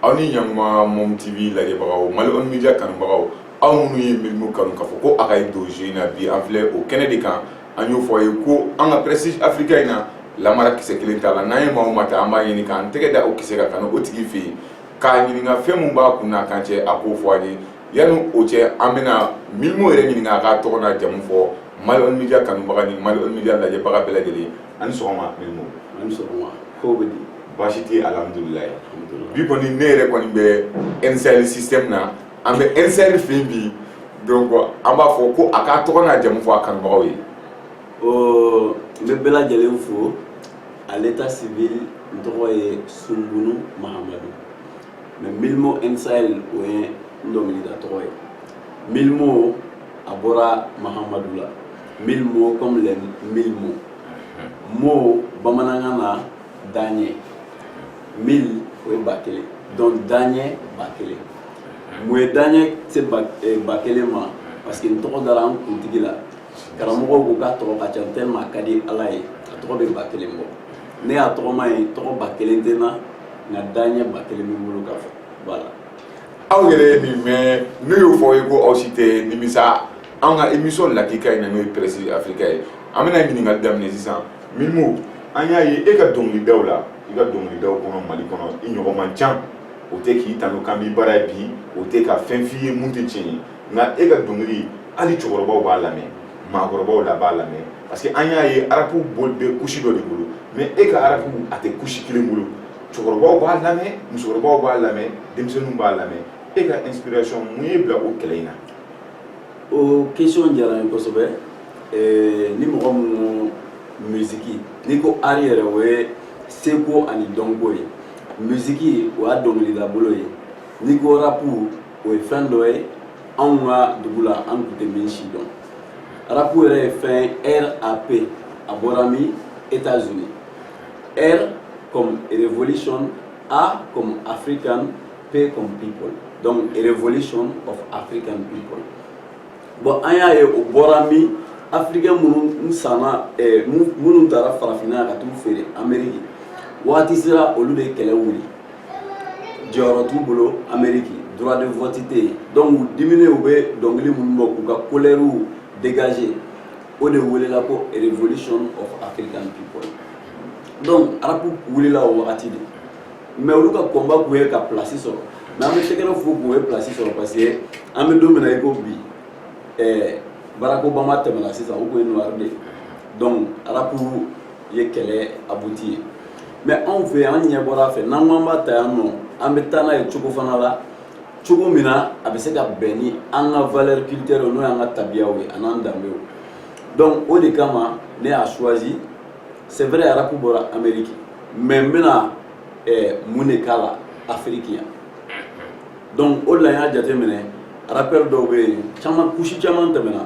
aw ni ɲakuma mom tv lajɛbagaw mali on media kanubagaw aw minnu ye mylmo kanu k'a fɔ ko a ka ye don jeu in na bi an filɛ o kɛnɛ de kan an y'o fɔ a ye ko an ka prestige africain in na namara kisɛ kelen t'a la n'an ye maa o maa ta an b'a ɲini k'an tɛgɛ da o kisɛ ka kanu o tigi fɛ yen k'a ɲininka fɛn min b'a kun n'a kan cɛ a k'o fɔ an ye Yanni o cɛ an bɛna mylmo yɛrɛ ɲininka a k'a tɔgɔ n'a jamu fɔ mali on media kanubaga ni mali on media lajɛbaga bɛɛ lajɛlen ye a ni sɔgɔma mylmo a ni sɔgɔma ko bɛ di baasi tɛ alhamdulilayi bi kɔni ne yɛrɛ kɔni bɛ n-sahel système na an bɛ n-sahel fɛ bi donc an b'a fɔ ko a k'a tɔgɔ n'a jamu fɔ a kanubagaw ye n bɛ bɛɛ lajɛlen fo à l'état civil n tɔgɔ ye sumbunu mahamadu mais mylmo n-sahel o ye n dɔnkilida tɔgɔ ye mylmo a bɔra mahamadu la mylmo comme les mille mots mot bamanankan na daɲɛ mille o ye ba kelen donc daɲɛ ba kelen mun ye daɲɛ se ba eh, ba kelen ma parce que n tɔgɔ dara an kuntigi la karamɔgɔw ko k'a tɔgɔ ka ca tellement a ka di ala ye a tɔgɔ bɛ ba kelen bɔ ne y'a tɔgɔma ye tɔgɔ ba kelen tɛ n na nka daɲɛ ba kelen bɛ n bolo ka fɔ voilà aw yɛrɛ ye min mɛn anw y'o fɔ aw ye ko aw si tɛ nimisa an ka émission lakika in na n'o ye prestige africain ye an bɛna ɲininkali daminɛ sisan mylmo an y'a ye e ka dɔnkilidaw la i ka dɔnkilidaw kɔnɔ mali kɔnɔ i ɲɔgɔn man ca o tɛ k'i tanu k'an b'i bara yan bi o tɛ ka fɛn f'i ye min tɛ tiɲɛ ye nka e ka dɔnkili hali cɛkɔrɔbaw b'a lamɛn maakɔrɔbaw la b'a lamɛn parce que an y'a ye arapu bɛ couche dɔ de bolo mais e ka arapu a tɛ couche kelen bolo cɛkɔrɔbaw b'a lamɛn musokɔrɔbaw b'a lamɛn denmisɛnninw b'a lamɛn e ka inspiration mun y'i bila o kɛlɛ in na o question diyara n ye kosɛbɛ eh, ni mɔgɔ minnu musiki n'i ko art yɛrɛ o ye seko ani dɔnko ye musiki o y'a dɔnkilidabolo ye n'i ko rapu o ye fɛn dɔ ye anw ka dugu la an tun tɛ min sidɔn arapu yɛrɛ ye fɛn rap a bɔra min états unis r comme revolution a comme african p comme people donc revolution of african people bon an y'a ye o bɔra min africain minnu sanna minnu tara farafinna ka t'u feere ameriki waati sera olu de kɛlɛ wuli jɔyɔrɔ t'u bolo ameriki droit de vote tɛ yen donc u diminen u bɛ dɔnkili minnu bɔ k'u ka kolɛriw dégager o de welela ko revolution of african people donc arapu wulila o wagati de mais olu ka combat kun ye ka place sɔrɔ mais an bɛ tɛgɛrɛ fo k'u ye place sɔrɔ parce que an bɛ don min na i ko bi ɛɛ barack obama tɛmɛna sisan o kun ye noir de ye donc arapu ye kɛlɛ abouti yen mais anw fɛ an ɲɛ bɔra a fɛ n'an ko an b'a ta yan nɔ an bɛ taa n'a ye cogo fana la cogo min na a bɛ se ka bɛn ni an ka valeur culturelle n'o y'an ka tabiyaw ye an'an danbew donc o de kama ne y'a choisi c'est vrai arapu bɔra amérique mais n bɛna eh, mun de k'a la afiriki yan donc o de la n y'a jateminɛ rappeur dɔw bɛ yen caman kusi caman tɛmɛna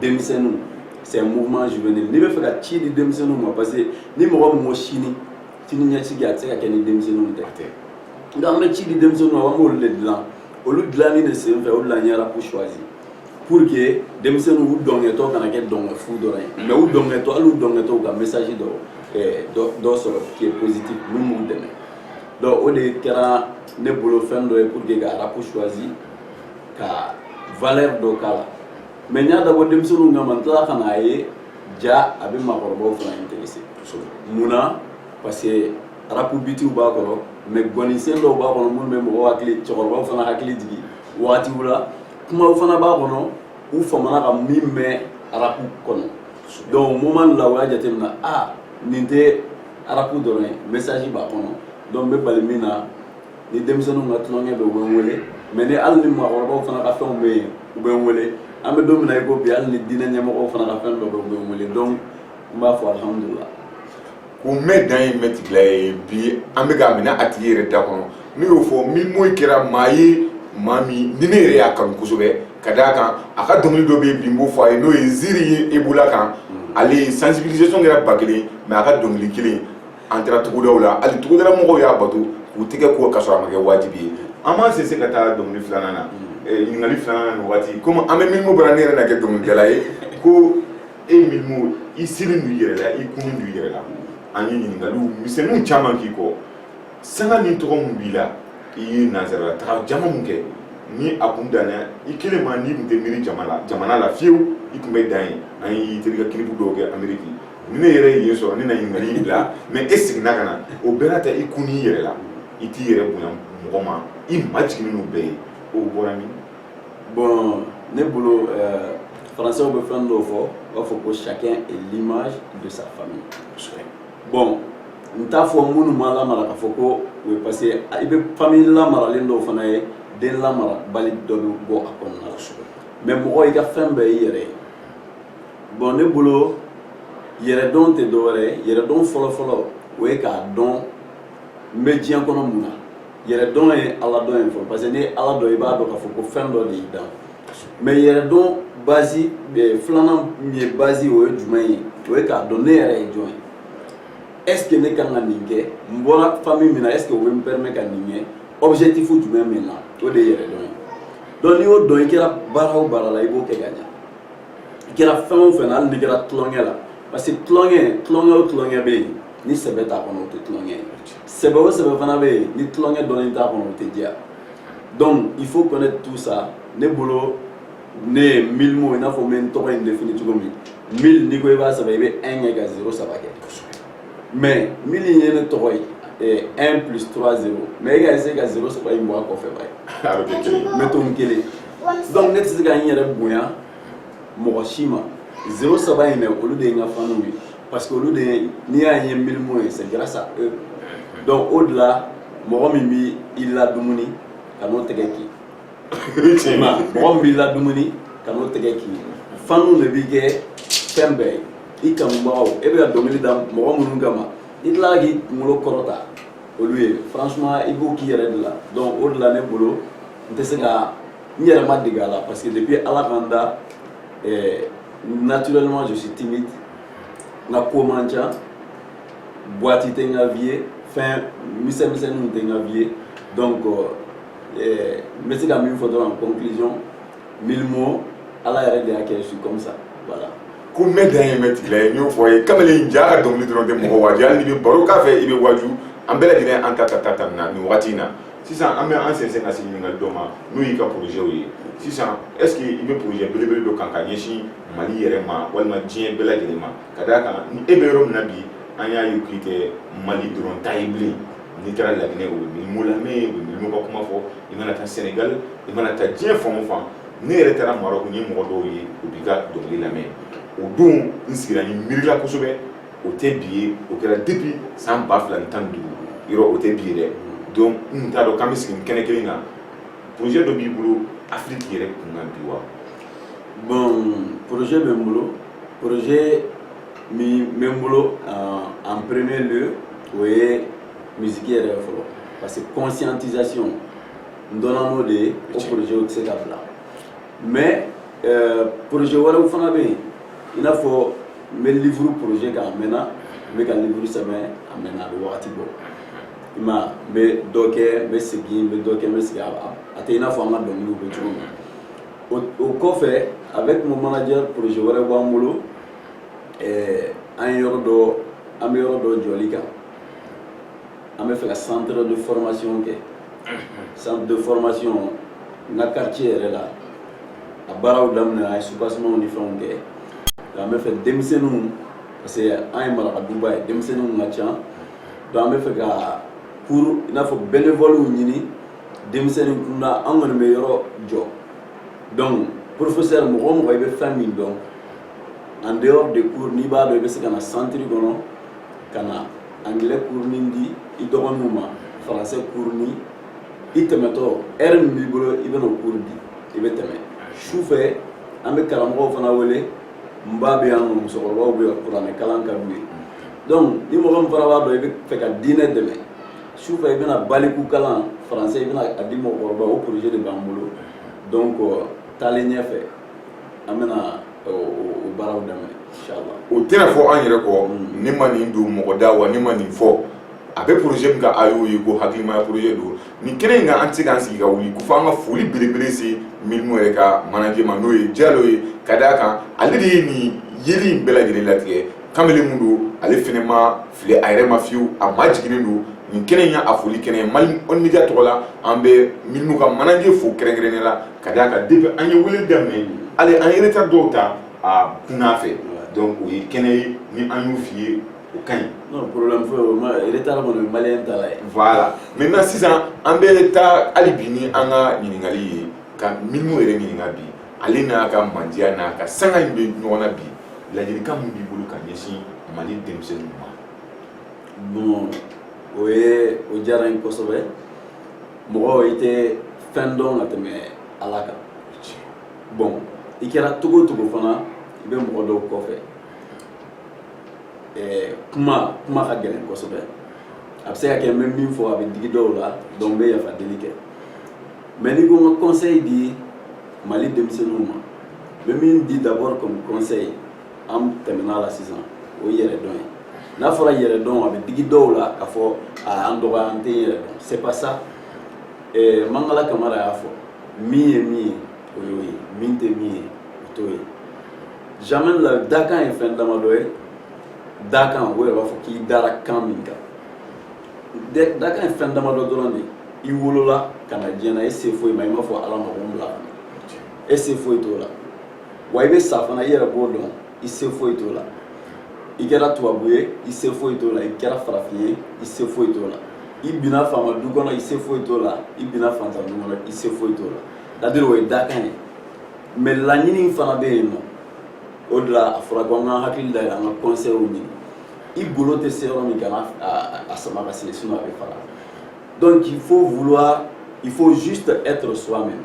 denmisɛnninw c'est un mouvement juvénile n'i bɛ fɛ ka ci di denmisɛnninw ma parce que ni mɔgɔ min ko sini sini ɲɛsigi a tɛ se ka kɛ ni denmisɛnninw tɛ donc an bɛ ci di denmisɛnninw ma an b'olu de dilan olu dilanni de sen fɛ o de la n ye arapu choisi pour que denmisɛnninw u dɔnkɛtɔ kana kɛ dɔnkɛfu dɔrɔn ye mais u dɔnkɛtɔ hali u dɔnkɛtɔ ka message dɔ eh, dɔ sɔrɔ qui est positif min b'u dɛmɛ donc o de kɛra ne bolo fɛn dɔ ye pour que ka arapu choisi ka valeur dɔ k'a la mais n y'a dabɔ denmisɛnninw kama n tila ka n'a ye ja a bɛ maakɔrɔbaw fana intéressé mun na parce que arapu bitiw b'a kɔrɔ mais gɔnisen dɔw b'a kɔnɔ minnu bɛ mɔgɔw hakili cɛkɔrɔbaw fana hakili jigin wagatiw la kumaw fana b'a kɔnɔ u famana ka min mɛn arapu kɔnɔ donc o moment la u y'a jateminɛ a nin tɛ arapu dɔrɔn ye message b'a kɔnɔ donc n bɛ bali min na ni denmisɛnninw ka tulonkɛ bɛ u bɛ n wele mais ni hali ni maakɔrɔbaw fana ka fɛnw bɛ yen u bɛ n wele an bɛ don min na i ko bi hali ni diinɛ ɲɛmɔgɔw fana ka fɛn dɔ bɛ u bɛ n wele donc n b'a fɔ alihamudulila ko mɛ dan ye mɛtigila ye bi an bɛ k'a minɛ a tigi yɛrɛ da kɔnɔ n'i y'o fɔ mylmo kɛra maa ye maa min ni ne yɛrɛ y'a kanu kosɛbɛ ka d'a kan a ka dɔnkili dɔ bɛ yen bi n b'o fɔ a ye n'o ye ziri ye ebola kan ale sensibilisation kɛra ba kelen mais a ka dɔnkili kelen an taara tugudaw la hali tugudala mɔgɔw y'a bato k'u tɛgɛ ko ka sɔrɔ a ma kɛ wajibi ye an b'an sɛnsɛn ka taa dɔnkili filanan na eh, ɲininkali filanan na waati komi an bɛ mylmo bara ne yɛrɛ na kɛ dɔnkilidala ye ko e mylmo i siri don i yɛrɛ la i kunun don i yɛrɛ la an ye ɲininkaliw misɛnninw caman k'i kɔ sanga ni tɔgɔ min b'i la i ye nanzarala taga jama min kɛ ni a kun danna i kelen ma n'i kun tɛ miiri jama la jamana la fiyewu i kun bɛ dan yen an ye terikɛ kilipu dɔw kɛ ameriki ni ne yɛrɛ ye yen sɔrɔ ne na ɲininkali in bila mais e seginna ka na o bɛɛ n'a ta i kun n'i yɛrɛ la i t'i yɛrɛ bonya mɔgɔ ma i majigin n'u bɛɛ ye o bɔra min bon ne bolo euh, faransɛw bɛ fɛn dɔw fɔ u b'a fɔ ko chacun est l'image de sa famille bon n t'a fɔ minnu ma lamara k'a fɔ ko o ye parce que i bɛ famille lamaralen dɔw fana ye den lamarabali dɔ bɛ bɔ a kɔnɔna la mais mɔgɔ i ka fɛn bɛɛ i yɛrɛ ye bon ne bolo yɛrɛdɔn tɛ dɔwɛrɛ ye yɛrɛdɔn fɔlɔfɔlɔ o ye k'a dɔn n bɛ diɲɛ kɔnɔ mun na yɛrɛdɔn ye ala dɔn ye fɔlɔ parce que n'i ye ala dɔn i b'a dɔn k'a fɔ ko fɛn dɔ de y'i dan mais yɛrɛdɔn base eh, filanan min ye base o ye jumɛn ye o ye k'a dɔn ne yɛrɛ ye jɔn ye est ce que ne kan ka nin kɛ n bɔra famille min na est ce que o bɛ n permet ka nin kɛ objectif jumɛn min na o de ye yɛrɛdɔn ye donc n'i y'o dɔn i kɛra baara o baara la i b'o kɛ ka ɲɛ i kɛra fɛn o fɛn na hali n'i kɛra tulonkɛ la parce que tulonkɛ tulonkɛ o tulonkɛ bɛ yen ni sɛbɛ t'a kɔnɔ o tɛ tulonkɛ ye sɛbɛ o sɛbɛ fana bɛ yen ni tulonkɛ dɔɔnin t'a kɔnɔ o tɛ diya donc il faut connaître tout ça ne bolo ne ye milimo i n'a fɔ n bɛ n tɔgɔ in défini cogo min mille n'i ko i b'a sɛbɛn i bɛ un kɛ ka zero saba kɛ mais mille in ye ne tɔgɔ ye. 1 eh, plus 3 0 mais i ka essayer ka 0 saba in bɔ a kɔfɛ i b'a ye n bɛ to n kelen donc ne tɛ se ka n yɛrɛ bonya mɔgɔ si ma zero saba in dɛ olu de ye n ka faniw ye parce que olu de ye n'i y'a ye milimo ye c'est grâce à eux donc o de la mɔgɔ min bɛ i ladumuni kan'o tɛgɛ kin mɔgɔ min b'i ladumuni kan'o tɛgɛ kin faniw de b'i kɛ fɛn bɛɛ ye i kanubagaw e bɛ ka dɔnkili da mɔgɔ minnu kama i tilala k'i kunkolo kɔrɔta olu ye franchement i b'o k'i yɛrɛ de la donc o de la ne bolo n tɛ se ka n yɛrɛ ma dege a la parce que depuis ala ka n da eh, naturellement je suis timide n ka ko man ca boîte tɛ n ka vie ye fɛn misɛn misɛnninw tɛ n ka vie ye donc eh, n bɛ se ka min fɔ dɔrɔn en conclusion milimo ala yɛrɛ de y'a kɛ je suis comme ça voilà ko mɛn dan ye mɛn tigi la ye n y'o fɔ a ye kamalen jaa a ka dɔnkili dɔrɔn tɛ mɔgɔ waaju hali n'i bɛ baro k'a fɛ i bɛ waaju an bɛɛ lajɛlen an ta ta ta ta na nin wagati in na sisan an bɛ an sɛnsɛn ka se ɲininkali dɔ ma n'o y'i ka projetw ye sisan est ce que i bɛ projet belebele dɔ kan ka ɲɛsin mali yɛrɛ ma walima diɲɛ bɛɛ lajɛlen ma ka d'a kan ni e bɛ yɔrɔ min na bi an y'a ye k'i tɛ mali dɔrɔn ta ye bilen n'i taara laginɛ o bɛ milimo lamɛn o bɛ milimo ka kuma fɔ i mana taa senegal i mana taa diɲɛ fan o fan ne yɛrɛ taara maroc n ye mɔgɔ dɔw ye u b'i ka dɔnkili lamɛn o don n sigira n miirila kosɛbɛ o tɛ bi ye o kɛra depuis san ba fila ni tan ni duuru yɔrɔ o tɛ bi ye dɛ donc n tun t'a dɔn k'an bɛ sigi nin kɛnɛ kelen kan projet dɔ b'i bolo afiriki yɛrɛ kunkan bi wa bon projet bɛ n bolo projet min bɛ n bolo en premier lieu o ye musique yɛrɛ fɔlɔ parce que conscientisation n dɔnna n'o de ye o projet tɛ se ka bila mais euh, projet wɛrɛw fana bɛ yen i n'a fɔ n bɛ livre projet kan a mɛnna n bɛ ka livre sɛbɛn a mɛnna a bɛ wagati bɔ i ma n bɛ dɔ kɛ n bɛ segin n bɛ dɔ kɛ n bɛ segin a tɛ i n'a fɔ an ka dɔnkiliw bɛ cogo min o kɔfɛ avec mon manager projet wɛrɛ b'an bolo ɛɛ an ye yɔrɔ dɔ an bɛ yɔrɔ dɔ jɔli kan an bɛ fɛ ka centre de formation kɛ centre de formation n ka quartier yɛrɛ la a baaraw daminɛ an ye soubassementw ni fɛnw kɛ nka an bɛ fɛ denmisɛnninw parce que an ye maraka duba ye denmisɛnninw ka ca donc an bɛ fɛ ka cours i n'a fɔ bénévoles ɲini denmisɛnnin kunda an kɔni bɛ yɔrɔ jɔ donc professeur mɔgɔ o mɔgɔ i bɛ fɛn min dɔn en dehors de cours n'i b'a dɔn i bɛ se ka na centre kɔnɔ ka na anglais cours ni di i dɔgɔninw ma français cours ni i tɛmɛtɔ heure min b'i bolo i bɛna o cours di i bɛ tɛmɛ sufɛ an bɛ karamɔgɔw fana wele n ba bɛ yan nɔ musokɔrɔbaw bɛ yan kuranɛ kalan ka d'u ye donc ni mɔgɔ min fana b'a dɔn i bɛ fɛ ka diinɛ dɛmɛ sufɛ i bɛna baliku kalan français i bɛna a di mɔgɔkɔrɔbaw o projet de b'an bolo donc taalen ɲɛfɛ an bɛna o baaraw daminɛ o tɛna fɔ an yɛrɛ kɔ mm. ne ma nin don mɔgɔ da wa ne ma nin fɔ a bɛ projet min kan a y'o ye ko hakilimaya projet don nin kɛnɛ in kan an tɛ se k'an sigi ka wuli ko fo an ka foli belebele se milimo yɛrɛ ka manager ma n'o ye jalo ye ka d'a kan ale de ye nin yeli in bɛɛ lajɛlen latigɛ kamalen mun don ale fɛnɛ ma fili a yɛrɛ ma fiyewu a majiginnen don nin kɛnɛ in y'a foli kɛnɛ ye mali on media tɔgɔ la an bɛ milimo ka manager fo kɛrɛnkɛrɛnnen la ka d'a kan depuis an ye wele daminɛ hali an ye retard dɔw ta a kunna fɛ donc o ye kɛnɛ ye ni an y'u f'i ye o ka ɲi non problème foyi o ma retard kɔni ye maliyɛn taalan ye voilà maintenant sisan an bɛ taa hali bi ni an ka ɲininkali ye ka milimo yɛrɛ ɲininka bi ale n'a ka mandiya n'a ka sanga in bɛ ɲɔgɔn na bi ladilikan min b'i bolo ka ɲɛsin mali denmisɛnninw ma bon o ye o diyara n ye kosɛbɛ mɔgɔ i tɛ fɛn dɔn ka tɛmɛ ala kan bon i kɛra cogo o cogo fana i bɛ mɔgɔ dɔw kɔfɛ ɛɛ kuma kuma ka gɛlɛn kosɛbɛ a bɛ se ka kɛ n bɛ min fɔ a bɛ digi dɔw la donc n bɛ yafa deli kɛ mais n'i ko n ka conseil di mali denmisɛnninw ma n bɛ min di d'abord comme conseil an tɛmɛna la sisan o ye yɛrɛdɔn ye n'a fɔra yɛrɛdɔn a bɛ digi dɔw la k'a fɔ an dɔgɔya an tɛ yɛrɛ dɔn c'est pas ça mangala kamara y'a fɔ min ye min ye o y'o ye min tɛ min ye o t'o ye jamais la dakan ye fɛn damadɔ ye dakan o yɛrɛ b'a fɔ k'i dara kan min kan dakan ye fɛn damadɔ dɔrɔn de ye i wolola ka na diɲɛ na e se foyi ma i m'a fɔ ala ma ko n bila e se foyi t'o la wa i bɛ sa fana i yɛrɛ b'o dɔn i se foyi t'o la i kɛra tubabu ye i se foyi t'o la i kɛra farafin ye i se foyi t'o la i binna faama du kɔnɔ i se foyi t'o la i binna fantan du kɔnɔ i se foyi t'o la c'est-à-dire o ye dakan ye mais laɲini fana bɛ yen nɔ o de la a fɔra ko an ka hakili dayɛlɛ an ka conseils ɲini i golo tɛ se yɔrɔ min kana a sama ka se sinon a bɛ fara donc il faut vouloir il faut juste être soi-même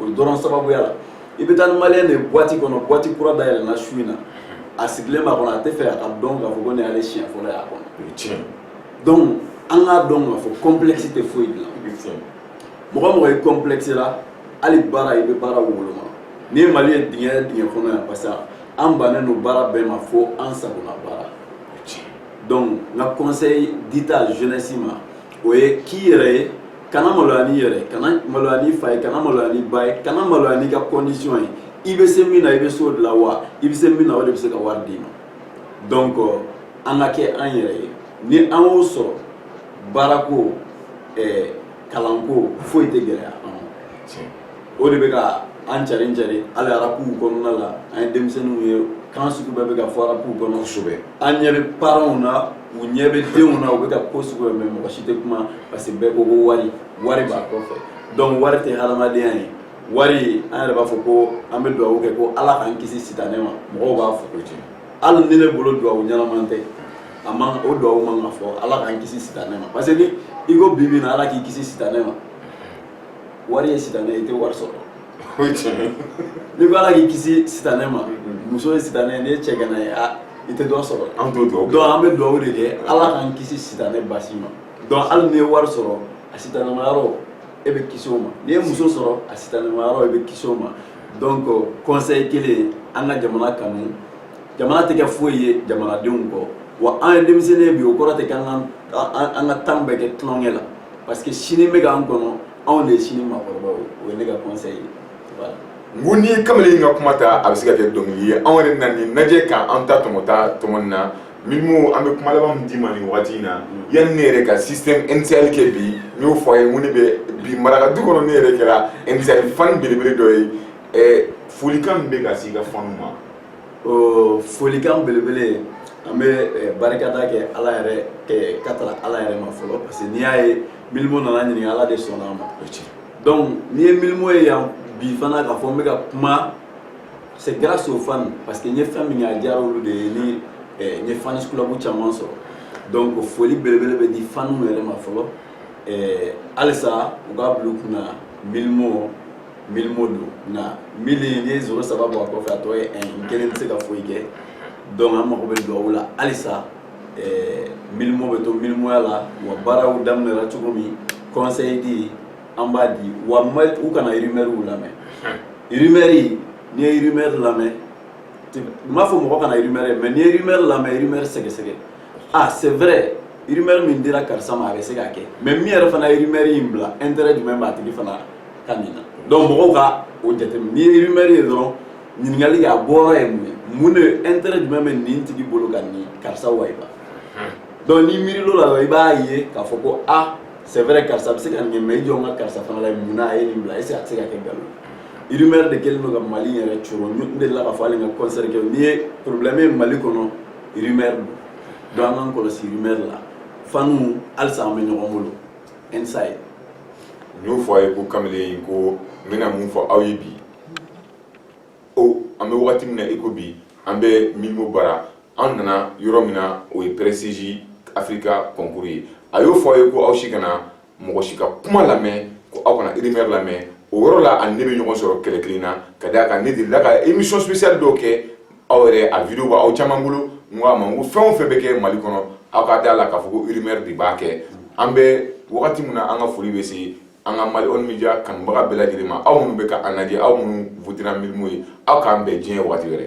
o de dɔrɔn sababuya la i bɛ taa ni maliyɛn de ye boîte kɔnɔ boîte kura dayɛlɛnna su in na a sigilen b'a kɔnɔ a tɛ fɛ a ka dɔn k'a fɔ ko nin y'ale siɲɛ fɔlɔ y'a kɔnɔ o ye tiɲɛ ye donc an k'a dɔn k'a fɔ complexe tɛ foyi dilan o ye tiɲɛ ye mɔgɔ o mɔgɔ ye complexe la hali baara i bɛ baara woloma n'i ye mali ye dingɛ dingɛ kɔnɔ yan parce que an bannen don baara bɛɛ ma fo an sago na baara o ye tiɲɛ ye donc n ka conseil dita jeunesse ma o ye k'i yɛrɛ ye kana maloya n'i yɛrɛ ye kana maloya n'i fa ye kana maloya n'i ba ye kana maloya n'i ka condition ye i bɛ se min na i bɛ s'o de la wa i bɛ se min na o de bɛ se ka wari d'i ma donc an ka kɛ an yɛrɛ ye ni an y'o sɔrɔ baarako ɛɛ kalanko foyi tɛ gɛlɛya an ma. o de bɛ ka an carin carin hali rapuw kɔnɔna la an ye denmisɛnninw ye kan sugu bɛɛ bɛ ka fɔ rapuw kɔnɔ kosɛbɛ an ɲɛ bɛ parents na u ɲɛ bɛ denw na u bɛ ka ko sugu bɛɛ mɛn mɔgɔ si tɛ kuma parce que bɛɛ ko ko wari wari b'a kɔfɛ donc wari tɛ hadamadenya ye wari an yɛrɛ b'a fɔ ko an bɛ dugawu kɛ ko ala k'an kisi sitanɛ ma mɔgɔw b'a fɔ ko tiɲɛ hali ni ne bolo dugawu ɲɛnaman tɛ a man o dugawu man ka fɔ ala k'an kisi sitanɛ ma parce que ni i ko bi bi in na ala k'i kisi sitanɛ ma wari ye sitanɛ ye i tɛ wari sɔrɔ o ye tiɲɛ ye n'i ko ala k'i kisi sitanɛ ma muso ye sitanɛ ye n'i ye cɛganan ye a i tɛ dɔ sɔrɔ an t'o dugawu donc an bɛ dugawu de kɛ ala k'an kisi sitanɛ basi ma donc hali n'i ye wari sɔrɔ a sitanɛma yɔrɔ e bɛ kisi o ma n'i ye muso sɔrɔ a sitanɛma yɔrɔ e bɛ kisi o ma donc conseil kelen an ka jamana kanu jamana tɛ kɛ foyi ye jamanadenw kɔ wa an ye denmisɛnnin ye bi o kɔrɔ tɛ k'an ka an ka temps bɛɛ kɛ tulonkɛ la parce que sini bɛ k'an kɔnɔ anw de ye sini maakɔrɔbaw ye o ye ne ka conseil ye voilà n ko n'i ye kamalen ka kuma ta a bɛ se ka kɛ dɔnkili ye anw yɛrɛ na nin lajɛ ka an ta tɔmɔta tɔmɔ nin na mylmo an bɛ kuma laban min d'i ma nin wagati in na yanni ne yɛrɛ ka système n-sahel kɛ bi n y'o fɔ a ye n ko ne bɛ bi maraka du kɔnɔ ne yɛrɛ kɛra n-sahel fan belebele dɔ ye folikan min bɛ ka se i ka fanw ma folikan belebele an bɛ eh, barikada kɛ ala yɛrɛ eh, ka taga ala yɛrɛ ma fɔlɔ parce que n'i y'a ye mylmo nana ɲininka ala de sɔnna a ma donc n'i ye mylmo ye yan bi fana k'a fɔ n bɛ ka kuma c'est grâce aux fans parce que n ye fɛn min kɛ a diyara olu de ye ni eh, n ye fans club caman sɔrɔ donc foli belebele bɛ di fanw yɛrɛ ma fɔlɔ halisa u k'a bila u kunna mylmo mylmo dɔnna mi n ye sɔrɔ sababu a kɔfɛ a tɔ ye n kelen tɛ se ka foyi kɛ donc an mago bɛ dugawu la halisa mylmo bɛ to mylmoya la wa baaraw daminɛra cogo min conseil di an b'a di wa u kana rumeurw lamɛn rumeur n'i ye rumeur lamɛn n m'a fɔ mɔgɔ kana rumeur mɛn n'i ye rumeur lamɛn rumeur sɛgɛsɛgɛ ah c'est vrai rumeur min dira karisa ma a bɛ se ka kɛ mais min yɛrɛ fana ye rumeur in bila intérêt jumɛn b'a tigi fana ka nin na donc mɔgɔw ka o jateminɛ n'i ye rumeur ye dɔrɔn ɲininkali kɛ a bɔyɔrɔ ye mun ye mun de intérêt jumɛn bɛ nin tigi bolo ka nin karisa wayiba donc n'i miiri l'o la dɔrɔn i b'a ye k'a fɔ ko ah c'est vrai karisa bɛ se ka nin kɛ mais i jɔ n ka karisa fana la mun na a ye nin bila est-ce que a tɛ se ka kɛ nkalon ye rumeur de kɛlen don ka mali yɛrɛ coro n delila k'a fɔ hali n ka concert kɛ n'i ye problème ye mali kɔnɔ rumeur don an k'an kɔlɔsi rumeur la fanw halisa an bɛ ɲɔgɔn bolo inside n y'o fɔ a ye ko kamalen ko n bɛna mun fɔ aw ye bi o an bɛ wagati min na i ko bi an bɛ mylmo bara an nana yɔrɔ min na o ye prestige africa concours ye a y'o fɔ a ye ko aw si kana mɔgɔ si ka kuma lamɛn ko aw kana rumeur lamɛn o yɔrɔ la a ni ne bɛ ɲɔgɔn sɔrɔ kɛlɛ kelen na ka d'a kan ne delila ka émission spéciale dɔw kɛ aw yɛrɛ a vidéo b'aw caman bolo n ko a ma n ko fɛn o fɛn bɛ kɛ mali kɔnɔ aw ka d'a la k'a fɔ ko rumeur de b'a kɛ an bɛ wagati min na an ka foli bɛ se an ka mali on media kanubaga bɛɛ lajɛlen ma aw minnu bɛ ka an lajɛ aw minnu votera mylmo ye aw k'an bɛn diɲɛ waati wɛrɛ